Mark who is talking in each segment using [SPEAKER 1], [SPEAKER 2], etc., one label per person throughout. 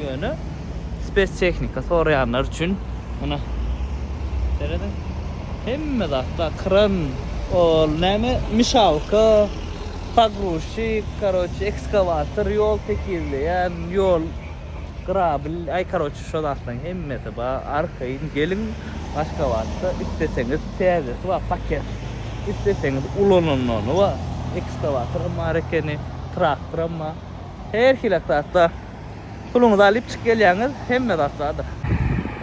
[SPEAKER 1] Ýöne spes-tehnika soraýanlar üçin muna serediň. Hemme zat bar. Kran, ol näme, mişawka, pogruzçik, karoçe, ekskawator, ýol tekizleýän, ýol grabil, aý karoçe şo zatlaryň hemmesi bar. Arkaýyn geliň Aşgabatda isleseňiz täzesi bar paket, isleseňiz ulanylany bar. Ekskawatoram bar ekeni, traktoram bar. Her hili zat bar. Puluňyzy alyp çyk gelýäňiz hemme zat bardyr.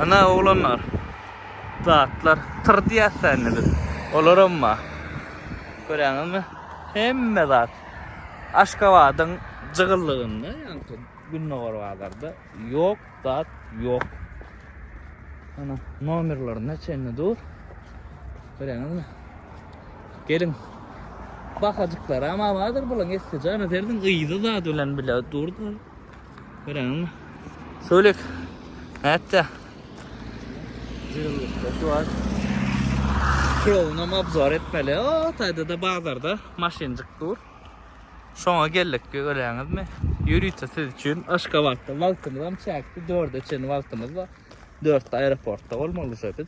[SPEAKER 1] Ana oglanlar zatlar tyr diýäs dä indi biz. Olaram bar. Görýäňizmi? Hemme zat Aşgabadyň jygyllygynda ýaňky gündogar bazarda ýok zat ýok. Ana nomerlerine çenli dur. Görýäňizmi? Geliň. Bahajyklaram abadyr bulaň esli jana serdiň gyzy zat bilen bile durdy. Göreňmi? Söylek. Nätdi? Jylylyk şu an. Krovnam obzor etmeli. O taýda da bazarda maşynjyk dur. Şoňa geldik göreňizmi? Ýörite siz üçin Aşgabatda wagtymyzam çäkli 4-e çenli wagtymyz bar. 4-de aeroportda bolmaly biz.